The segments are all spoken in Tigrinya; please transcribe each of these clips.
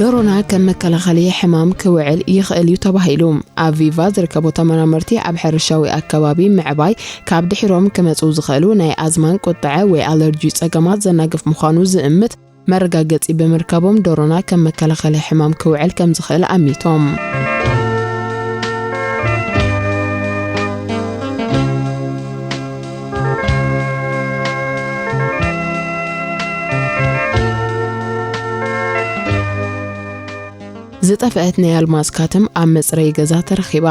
ደሮና ከም መከላኸሊ ሕማም ክውዕል ይኽእል እዩ ተባሂሉ። ኣብ ቪቫ ዝርከቡ ተመራመርቲ ኣብ ሕርሻዊ ኣከባቢ ምዕባይ ካብ ድሒሮም ክመጹ ዝኽእሉ ናይ ኣዝማን ቁጠዐ ወይ ኣለርጂ ጸገማት ዘናግፍ ምዃኑ ዝእምት መረጋገጺ ብምርካቦም ደሮና ከም መከላኸሊ ሕማም ክውዕል ከም ዝኽእል ኣሚቶም። ዝጠፍአት ናይ ኣልማዝ ካትም ኣብ መጽረይ ገዛ ተረኺባ።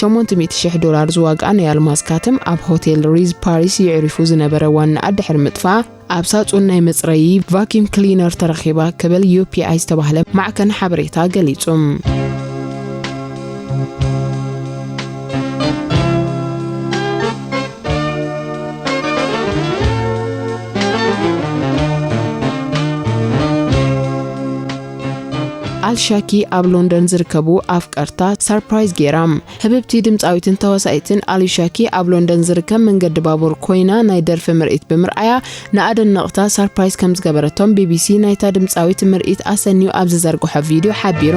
800,000 ዶላር ዝዋግኣ ናይ ኣልማዝ ካትም ኣብ ሆቴል ሪዝ ፓሪስ የዕሪፉ ዝነበረ ዋናኣ ድሕሪ ምጥፋኣ ኣብ ሳጹን ናይ መጽረዪ፣ ቫክዩም ክሊነር፣ ተረኺባ ክብል ዩፒኣይ ዝተባህለ ማዕከን ሓበሬታ ገሊጹ። ኣልሻኪ ኣብ ሎንደን ዝርከቡ ኣፍቀርታ ሰርፕራይዝ ገይራ ህብብቲ ድምጻዊትን ተዋሳኢትን ኣሊሻ ኪ ኣብ ሎንደን ዝርከብ መንገዲ ባቡር ኮይና ናይ ደርፊ ምርኢት ብምርኣያ ንኣደነቕታ ሳርፕራይዝ ከም ዝገበረቶም ቢቢሲ ናይታ ድምጻዊት ምርኢት ኣሰንዩ ኣብ ዝዘርግሖ ቪድዮ ሓቢሩ።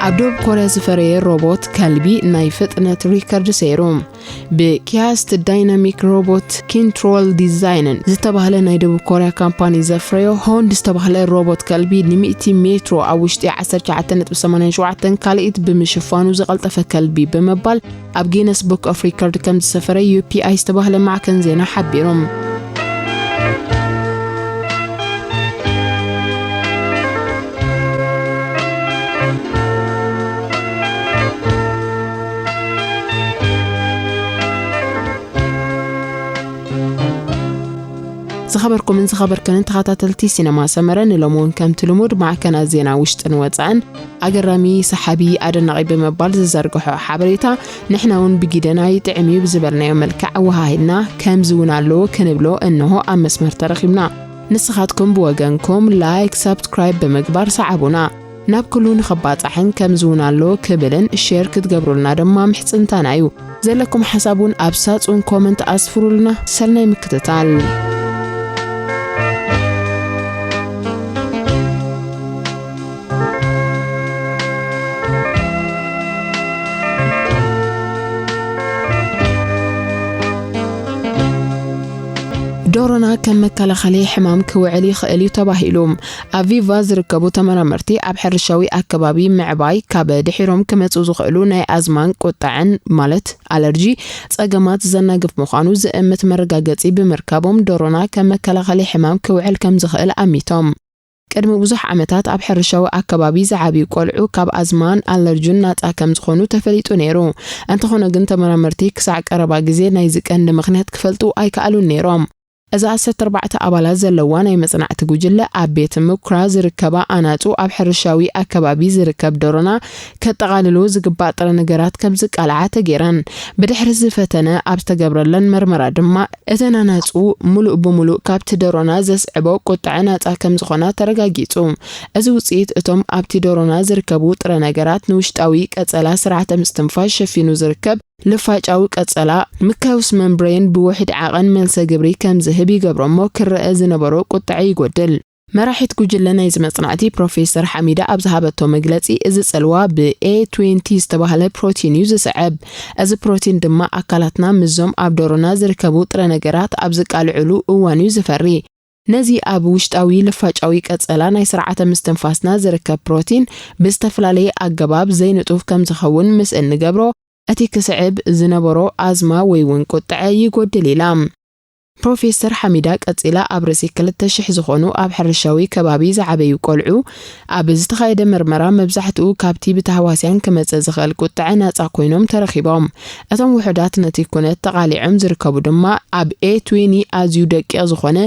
ኣብ ደቡብ ኮርያ ዝፈረየ ሮቦት ከልቢ ናይ ፍጥነት ሪከርድ ሰይሩ ብኪያስት ዳይናሚክ ሮቦት ኪንትሮል ዲዛይንን ዝተባህለ ናይ ደቡብ ኮርያ ካምፓኒ ዘፍረዮ ሆንድ ዝተባህለ ሮቦት ከልቢ ን100 ሜትሮ ኣብ ውሽጢ 19.87 ካልኢት ብምሽፋኑ ዝቐልጠፈ ከልቢ ብምባል ኣብ ጊነስ ቡክ ኦፍ ሪከርድ ከም ዝሰፈረ ዩፒኣይ ዝተባህለ ማዕከን ዜና ሓቢሩ። ዝኸበርኩምን ዝኸበርክንን ተኸታተልቲ ሲነማ ሰመረ ንሎሚ እውን ከምቲ ልሙድ ማዕከናት ዜና ውሽጥን ወፃእን ኣገራሚ ሰሓቢ ኣደናቒ ብምባል ዝዘርግሖ ሓበሬታ ንሕና እውን ብጊደና ይጥዕም እዩ ብዝበልናዮ መልክዕ ኣወሃሂድና ከምዚ እውን ኣለዎ ክንብሎ እንሆ ኣብ መስመር ተረኺብና ንስኻትኩም ብወገንኩም ላይክ ሳብስክራይብ ብምግባር ሰዓቡና ናብ ኩሉ ንኽባጻሕን ከምዚ እውን ኣለዎ ክብልን ሼር ክትገብሩልና ድማ ምሕጽንታና እዩ ዘለኩም ሓሳብ ውን ኣብ ሳጹን ኮመንት ኣስፍሩልና ሰናይ ምክትታል። ዶሮና ከም መከላኸሊ ሕማም ክውዕል ይኽእል እዩ ተባሂሉ ኣብ ቪቫ ዝርከቡ ተመራመርቲ ኣብ ሕርሻዊ ኣከባቢ ምዕባይ ካብ ድሒሮም ክመጹ ዝኽእሉ ናይ ኣዝማን ቁጠዐን ማለት ኣለርጂ ጸገማት ዘናግፍ ምዃኑ ዝእምት መረጋገጺ ብምርካቦም ዶሮና ከም መከላኸሊ ሕማም ክውዕል ከም ዝኽእል ኣሚቶም። ቅድሚ ብዙሕ ዓመታት ኣብ ሕርሻዊ ኣከባቢ ዝዓብዩ ቆልዑ ካብ ኣዝማን ኣለርጁን ናጻ ከም ዝኾኑ ተፈሊጡ ነይሩ። እንተኾነ ግን ተመራመርቲ ክሳዕ ቀረባ ግዜ ናይዚ ቀንዲ ምኽንያት ክፈልጡ ኣይከኣሉን ነይሮም። እዛ ዓሰርተ ኣርባዕተ ኣባላት ዘለዋ ናይ መጽናዕቲ ጉጅለ፣ ኣብ ቤት ምኩራ ዝርከባ ኣናጹ፣ ኣብ ሕርሻዊ ኣከባቢ ዝርከብ ደሮና ከጠቓልሉ ዝግባእ ጥረ ነገራት ከም ዝቃልዓ ተገይረን። ብድሕሪ እዚ ፈተነ ኣብ ዝተገብረለን መርመራ ድማ፣ እተን ኣናጹ ምሉእ ብምሉእ ካብቲ ደሮና ዘስዕቦ ቁጥዐ ናጻ ከም ዝኾና ተረጋጊጹ። እዚ ውጽኢት፣ እቶም ኣብቲ ደሮና ዝርከቡ ጥረ ነገራት ንውሽጣዊ ቀጸላ ስርዓተ ምስትንፋስ ሸፊኑ ዝርከብ፣ ልፋጫዊ ቀጸላ፣ ምካዩስ መንብረይን ብውሒድ ዓቐን መልሰ ግብሪ ከም ዝህብ ይገብሮ'ሞ ክረኣ ዝነበሮ ቁጠዐ ይጎድል። መራሒት ጉጅለ ናይዚ መጽናዕቲ ፕሮፌሰር ሓሚዳ ኣብ ዝሃበቶ መግለጺ፣ እዚ ጽልዋ ብ A twenty ዝተባህለ ፕሮቲን እዩ ዝስዕብ። እዚ ፕሮቲን ድማ ኣካላትና ምስዞም ኣብ ደሮና ዝርከቡ ጥረ ነገራት ኣብ ዝቃልዑሉ እዋን'ዩ ዝፈሪ። ነዚ ኣብ ውሽጣዊ ልፋጫዊ ቀጸላ ናይ ስርዓተ ምስትንፋስና ዝርከብ ፕሮቲን ብዝተፈላለየ ኣገባብ ዘይንጡፍ ከም ዝኸውን ምስ እንገብሮ፣ እቲ ክስዕብ ዝነበሮ ኣዝማ ወይ እውን ቁጥዐ ይጎድል ኢላ። ፕሮፌሰር ሓሚዳ ቀጺላ ኣብ ርእሲ ክልተ ሽሕ ዝኾኑ ኣብ ሕርሻዊ ከባቢ ዝዓበዩ ቆልዑ ኣብ ዝተኻየደ ምርመራ መብዛሕትኡ ካብቲ ብታህዋስያን ክመጽእ ዝኽእል ቁጥዐ ናጻ ኮይኖም ተረኺቦም። እቶም ውሑዳት ነቲ ኩነት ተቓሊዖም ዝርከቡ ድማ ኣብ A20 ኣዝዩ ደቂቕ ዝኾነ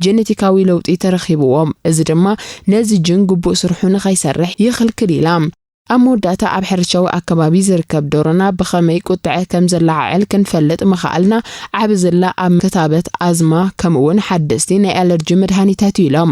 ጀነቲካዊ ለውጢ ተረኺብዎም፣ እዚ ድማ ነዚ ጅን ግቡእ ስርሑ ንኸይሰርሕ ይኽልክል ኢላ። ኣብ መወዳእታ ኣብ ሕርሻዊ ኣከባቢ ዝርከብ ዶሮና ብኸመይ ቁጥዐ ከም ዘለዓዕል ክንፈልጥ ምኸኣልና ዓቢ ዝላ ኣብ ክታበት ኣዝማ ከምኡ'ውን ሓደስቲ ናይ ኣለርጂ መድሃኒታት እዩ ኢሎም።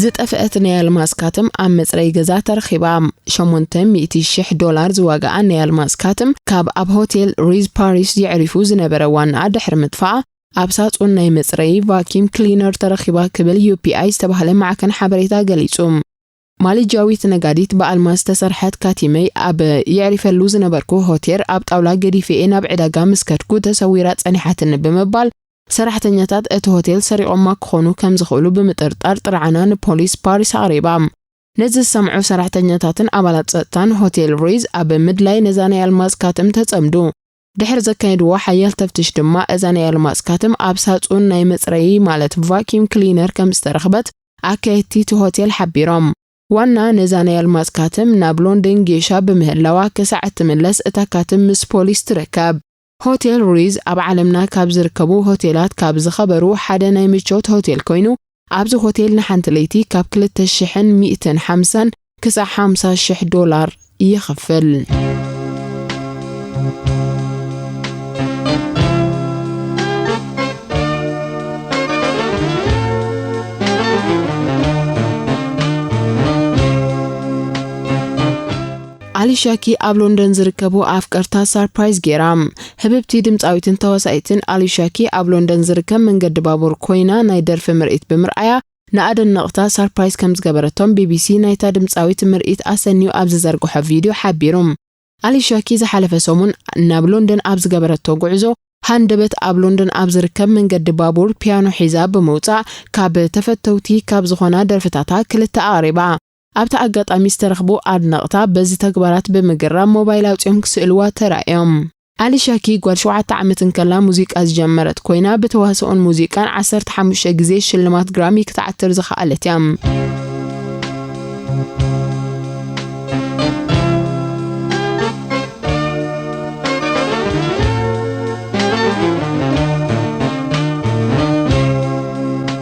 ዝጠፍአት ናይ ኣልማዝ ካትም ኣብ መጽረዪ ገዛ ተረኺባ። ሸሞንተ ሚእቲ ሽሕ ዶላር ዝዋግኣ ናይ ኣልማዝ ካትም ካብ ኣብ ሆቴል ሪዝ ፓሪስ የዕሪፉ ዝነበረ ዋንኣ ድሕሪ ምጥፍኣ፣ ኣብ ሳጹን ናይ መጽረዪ ቫኪም ክሊነር ተረኺባ ክብል ዩፒኣይ ዝተባህለ ማዕከን ሓበሬታ ገሊጹ። ማሊጅያዊት ነጋዲት ብኣልማዝ ዝተሰርሐት ካቲመይ ኣብ የዕሪፈሉ ዝነበርኩ ሆቴር ኣብ ጣውላ ገዲፈ'የ ናብ ዕዳጋ ምስ ከድኩ ተሰዊራ ጸኒሓትኒ ብምባል ሰራሕተኛታት እቲ ሆቴል ሰሪቖማ ክኾኑ ከም ዝኽእሉ ብምጥርጣር ጥርዓና ንፖሊስ ፓሪስ ኣቕሪባ። ነዚ ዝሰምዑ ሰራሕተኛታትን ኣባላት ጸጥታን ሆቴል ሪዝ ኣብ ምድላይ ነዛ ናይ ኣልማዝ ካትም ተጸምዱ። ድሕሪ ዘካየድዎ ሓያል ተፍትሽ ድማ እዛ ናይ ኣልማዝ ካትም ኣብ ሳጹን ናይ መጽረዪ ማለት ቫኪዩም ክሊነር ከም ዝተረኽበት ኣካየድቲ እቲ ሆቴል ሓቢሮም። ዋና ነዛ ናይ ኣልማዝ ካትም ናብ ሎንደን ጌሻ ብምህላዋ ክሳዕ እትምለስ እታ ካትም ምስ ፖሊስ ትርከብ። ሆቴል ሩይዝ ኣብ ዓለምና ካብ ዝርከቡ ሆቴላት ካብ ዝኸበሩ ሓደ ናይ ምቾት ሆቴል ኮይኑ ኣብዚ ሆቴል ንሓንቲ ለይቲ ካብ ክልተ ሽሕን ሚእትን ሓምሳን ክሳዕ ሓምሳ ሽሕ ዶላር ይኽፍል። ኣሊሻኪ ኣብ ሎንደን ዝርከቡ ኣፍቀርታ ሳርፕራይዝ ጌራ። ህብብቲ ድምጻዊትን ተዋሳኢትን ኣሊሻኪ ኣብ ሎንደን ዝርከብ መንገዲ ባቡር ኮይና ናይ ደርፊ ምርኢት ብምርኣያ ንኣደነቕታ ሳርፕራይዝ ከምዝገበረቶም ቢቢሲ ናይታ ድምጻዊት ምርኢት ኣሰንዩ ኣብ ዝዘርግሖ ቪድዮ ሓቢሩ። ኣሊሻኪ ዝሓለፈ ሰሙን ናብ ሎንደን ኣብ ዝገበረቶ ጉዕዞ ሃንደበት ኣብ ሎንደን ኣብ ዝርከብ መንገዲ ባቡር ፒያኖ ሒዛ ብምውጻእ ካብ ተፈተውቲ ካብ ዝኾና ደርፍታታ ክልተ ኣቕሪባ። ኣብቲ ኣጋጣሚ ዝተረኽቡ ኣድነቕታ በዚ ተግባራት ብምግራም ሞባይል ኣውጺኦም ክስእልዋ ተራእዮም። ኣሊሻ ኪ ጓል ሸውዓተ ዓመት እንከላ ሙዚቃ ዝጀመረት ኮይና ብተዋስኦን ሙዚቃን ዓሰርተ ሓሙሽተ ግዜ ሽልማት ግራሚ ክትዓትር ዝኸኣለት እያ።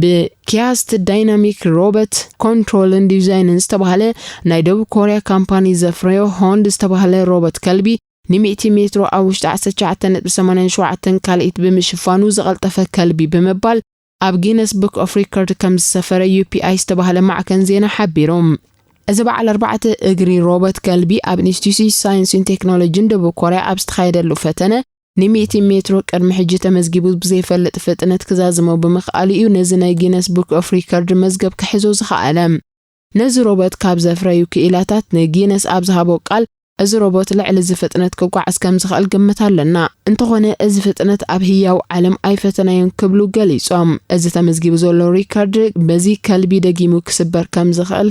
ብኪያስት ዳይናሚክ ሮበት ኮንትሮልን ዲዛይንን ዝተባህለ ናይ ደቡብ ኮርያ ካምፓኒ ዘፍረዮ ሆንድ ዝተባህለ ሮበት ከልቢ ንሚእቲ ሜትሮ ኣብ ውሽጢ ዓሰርተ ትሽዓተ ነጥቢ ሰማንያ ሸውዓተ ካልኢት ብምሽፋኑ ዝቐልጠፈ ከልቢ ብምባል ኣብ ጊነስ ቡክ ኦፍ ሪከርድ ከም ዝሰፈረ ዩፒኣይ ዝተባህለ ማዕከን ዜና ሓቢሩ። እዚ በዓል ኣርባዕተ እግሪ ሮበት ከልቢ ኣብ ኢንስቲትዩት ሳይንስን ቴክኖሎጂን ደቡብ ኮርያ ኣብ ዝተኻየደሉ ፈተነ ንሚእቲ ሜትሮ ቅድሚ ሕጂ ተመዝጊቡ ብዘይፈልጥ ፍጥነት ክዛዝሞ ብምኽኣሉ እዩ ነዚ ናይ ጊነስ ቡክ ኦፍ ሪከርድ መዝገብ ክሕዞ ዝኸኣለ። ነዚ ሮቦት ካብ ዘፍረዩ ክኢላታት ንጊነስ ኣብ ዝሃቦ ቃል፣ እዚ ሮቦት ልዕሊ እዚ ፍጥነት ክጓዓዝ ከም ዝኽእል ግምት ኣለና፣ እንተኾነ እዚ ፍጥነት ኣብ ህያው ዓለም ኣይፈተናዮን ክብሉ ገሊጾም። እዚ ተመዝጊቡ ዘሎ ሪከርድ በዚ ከልቢ ደጊሙ ክስበር ከም ዝኽእል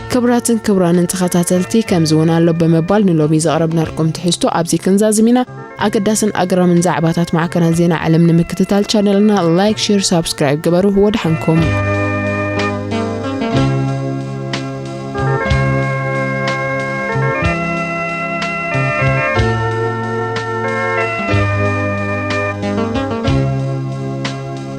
ክብራትን ክብራንን ተኸታተልቲ ከምዚ እውን ኣሎ ብምባል ንሎሚ ዘቕረብናልኩም ትሕዝቶ ኣብዚ ክንዛዝም ኢና። ኣገዳስን ኣግራምን ዛዕባታት ማዕከናት ዜና ዓለም ንምክትታል ቻነልና ላይክ፣ ሼር፣ ሳብስክራይብ ግበሩ። ወድሓንኩም።